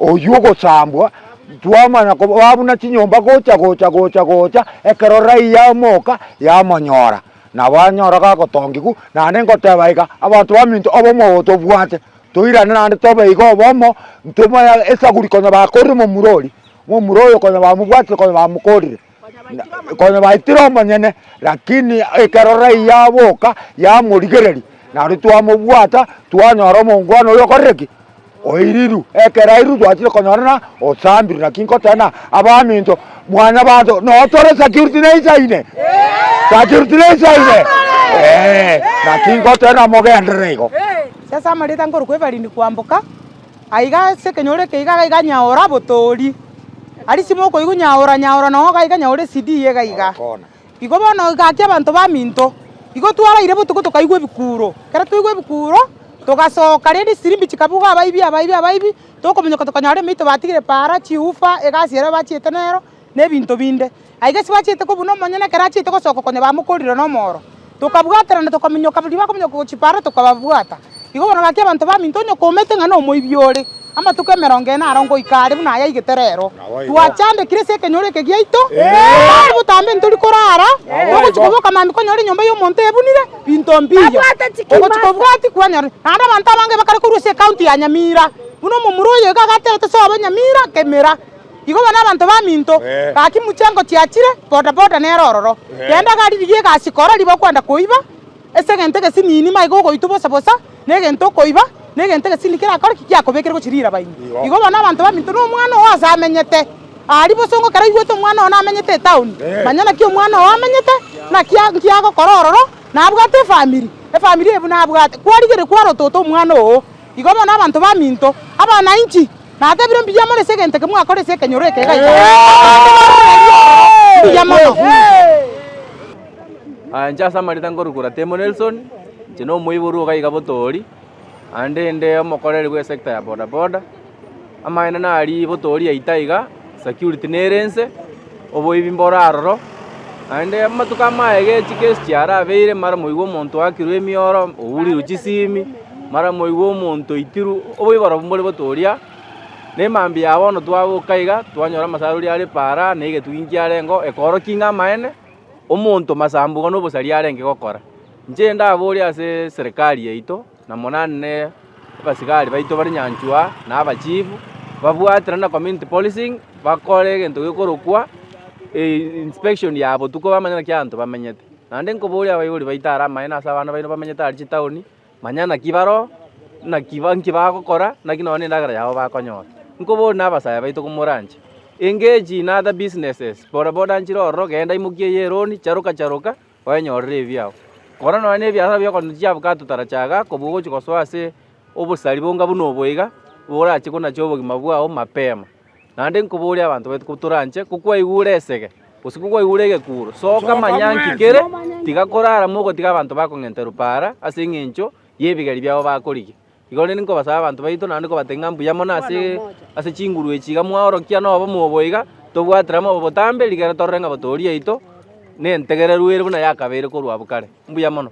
Oyio ogosambwa twamanya kobaa buna chinyomba gocha gocha gocha gocha ekero raiya amoka yamonyora nabo anyora gagotongigwa naende ngoteba iga abanto baminto obomo obo tobwate toirane naende tobe iga obomo ntomoya esaguri konya bakorire momura oria momura oyo konya bamobwatire konya bamokorire. Konya baitire omonyene, lakini ekero Rai yaboka yamorigereria, nario twamobwata, twanyora omongwana oyo okorire ki? Oiriru. Ekero airiru twachire konyora na osambire, lakini nkoteba na abaminto, mwanyabanto, noo tore security na insaine. Security na insaine. Eh, lakini nkoteba na mogenderere igo. Sasa amarita nkorokwa ebarindi kwamboka, Aiga ase ekenyoro eke iga gaiga nyaora botoori. Aria simo okoigwa nyaora nyaora na oo gaiga nyaora esidi eye gaiga. Igo bono gaki abanto baminto. Igo twaraire botuko tokaigwa ebikuuro. Ekero twaigwa ebikuuro togasoka rende chisirimbi chikabuga abaibi abaibi abaibi tokomonyoka tokanyora emeito batigire para chiufa egasi eria bachiete nero. nebinto binde. Aiga ase bachete kobuna omonyene ekero achiete gosoka konya bamokorire nomooro. Tokabwaterana tokaminyoka riria bakominyoka gochia Paara tokababwata. Igo bono gaki abanto baminto onye komete ng'a nomoibi ore. Amatuko emerongo ene aro ngoika are buna aya aigete rero. Twachandekire ase ekenyoro eke giaito, botambe botambe ntori korara, togochia koboka mambia konyora enyomba y'omonto ebunire binto mbiya. Ogochia kobwati kwanyora naende abanto abange bakare korwa ase ekaunti ya Nyamira buna omomura oyo iga agaterete sobe Nyamira kemera. Igo bono abanto baminto gaki muchengo chiachire bodaboda nere ororo, rende gari riria egasi kora riba kwenda koiba ase egento egesinini maiga ogoitwa bosa bosa negento okoiba negento egesinini kerakore ki kiakobekire gochia rirabaini. Igo bono abanto baminto na omwana oo ase amenyete aria bosa ongo kera oigwete omwana oo namenyete etaoni manya naki omwana oo amenyete naki nkiagokora ororo nabwate efamiri efamiri ebu nabwate kwarigeria kwarotota omwana oo. Igo bono abanto baminto, abana inchi, natebire mbuya more ase egento eke mwakora ase ekenyoro eke egaiga abande barorerie ororo mbuya mono. Aya inche ase amarita nkorokora Temo Nelson, inche nomoiborwa ogaiga Botoori, naende inde omokoreri bw'esekta ya bodaboda. Amaene nari botooria itaiga, security nere ense, oboibi mboro aroro. Naende amatuko amaege echi case chiarabeire, mara moigwe omonto oakirwe emioro, ourirwe chisimi, mara moigwe omonto oitirwe, oboibi barobwo mbore botooria. Na emambia ya bono twagoka iga, twanyora amasarori are para, na egetugi nkiarengeo, ekoorokia ng'a amaene, omonto masambugo na obosari arenge gokora. Inche ndabore ase serikari yaito. na monane abasigari baito bare nyanchwa aa, na abachifu, babwatana na community policing, bakore egento gekorokwa inspection ya botuko bamanye naki abanto bamenyete. Naende nkoboria abaibori baito are amaene ase abana baino bamenyete are chitaoni, manya naki bare oo, naki nki bagokora, naki nonye na endagera yabo bakonyora. Nkoborie na abasaya baito komora anche, engage in other businesses, bodaboda nchire ororo, genda imokia eye eroni, charoka charoka. Kwenyorera ebiao. Kora nonya nebiasara bia okoranderia chiabukato tara chaga kobua ogochia gosoa ase obosari bonga buna obo iga, orache konachie obogima bwao mapema. Naende nkoborie abanto baito kotoranche, kokwaigure esege, gose kokwaigure egekuro, soka manya nki kere, tiga korara mogotiga abanto bakong'enterwa paara ase eng'encho y'ebigeri biabo bakorigia. Igo rende nkobasaba abanto baito, naende kobatebia ng'a mbuya mono ase ase chinguru echi iga mwaorokia nobomo obo iga, tobwatera mobe botambe, rigere torore ng'a botoori yaito nentegererwe ere buna yakabeire korwa abwo kare. Mbuya mono.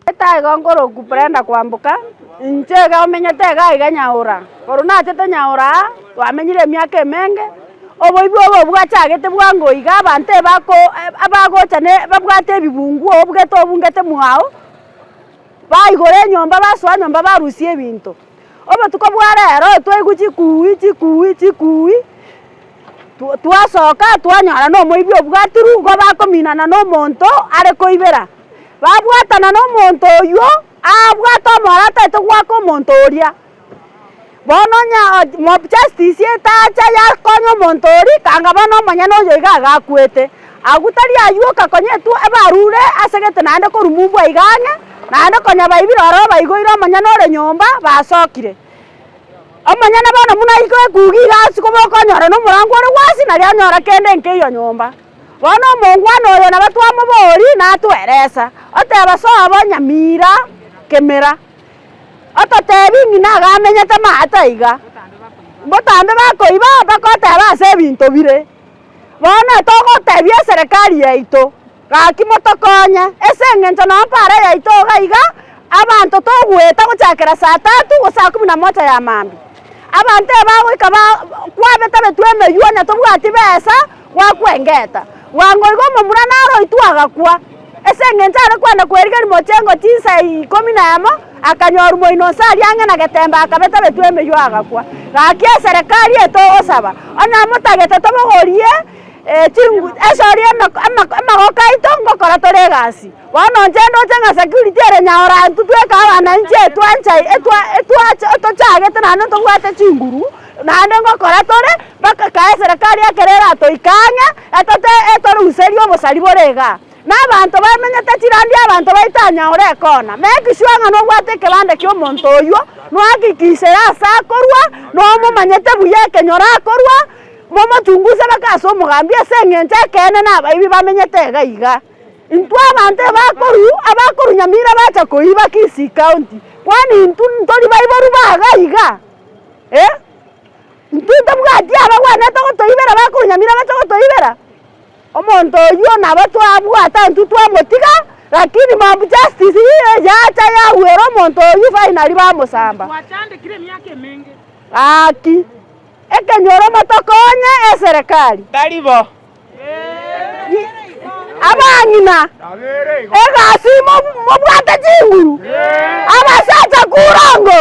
Gete aiga nkoroku Brenda kwamboka, inche iga omenyete iga aiga Nyaura. Korwa nachete Nyaura aa, twamenyire emiaka emenge, oboibi obo bwachagete bwango iga abanto ebako ebagocha ne babwate ebibunguo obugete obungete mwago. Baigora enyomba, basoa nyomba, barusia ebinto. Obotuko bwa rero twaigwa chikuui, chikuui, chikuui, twa twasoka twanyora na omoibi obwatirwe, igo bakominana na omonto are koibera. Babwatana na omonto oywo, abwate omorata ataete goaka omonto oria. Bono onye mob justice etacha yakonya omonto oria ekanga bono omonyene oyo iga agakwete, agwo tari aywoka konya etwo ebarure asegete naende korumumbwa iga ang'e, naende konya baibire ororo baigoire omonyene ore nyomba basokire. Omonyene bono buna aika ekuge iga ase koba okonyora na omorango ore gwasi nari anyora kende nkeiyo nyomba. Bono omongwana oyo nabo twamoboria natweresa, oteba sobo nyamira kemera. Ototebi ng'ina agamenyete maate aiga, mbotambe bakoiba bakoteba ase ebinto bire. Bono togotebia eserekari yaito, Gaki motokonye, ase engencho nao mpara yaito iga iga abanto togoeta gochakera saa tatu gose saa kumi na mocha ya maambia. Abanto ebagoika ba kwabetabetwe emeywo, onye tobwati besa. Gwakwengeta bwango igo omomura naroitwe agakwa. Ase engencho are kwenda kwerigeria mochengo chinsa ikomi na emo, akanyorwa moino onsi aria ang'e na getembe akabetabetwa emeywa agakwa. Gaki eserekari eye togosaba, onye motagete tobogorie esori amagoka aito ngokora tore egasi. Bono inche ndoche ng'a security ere nyaora ntutweke abananchi etwancha otochagete naende ntobwate chinguru. Naende ngokora tore mpaka kae eserekari ekero eratoike ang'e, etote etoruserie obosari bore iga, na abanto bamenyete chirandi y'abanto baitanya ore ekona. Make sure ng'a nobwate ekebande ki'omonto oyio, nohakikishire aase akorwa, na omomanyete buya ekenyoro akorwa, momotunguse mpaka ase omogambi, ase engencho ekeene nabaibi bamenyete iga iga. Intwe abanto ebakoru abakoru nyamira bacha koiba Kisii County, kwani intwe ntori baiboru ba iga iga. eh, intwe tabwati abagwenerete gotoibera bakonyamira bache gotoibera, omonto oywo nabo twabwata intwe twamotiga, rakini mob justice iga yacha yagwera omonto oywo finally bamosamba. Gwachandekire emiaka emenge. Gaki, ekenyoro motokonye eserekari. Tari bo. Abang'ina, egasi mobwate chinguru, abasacha kurongo.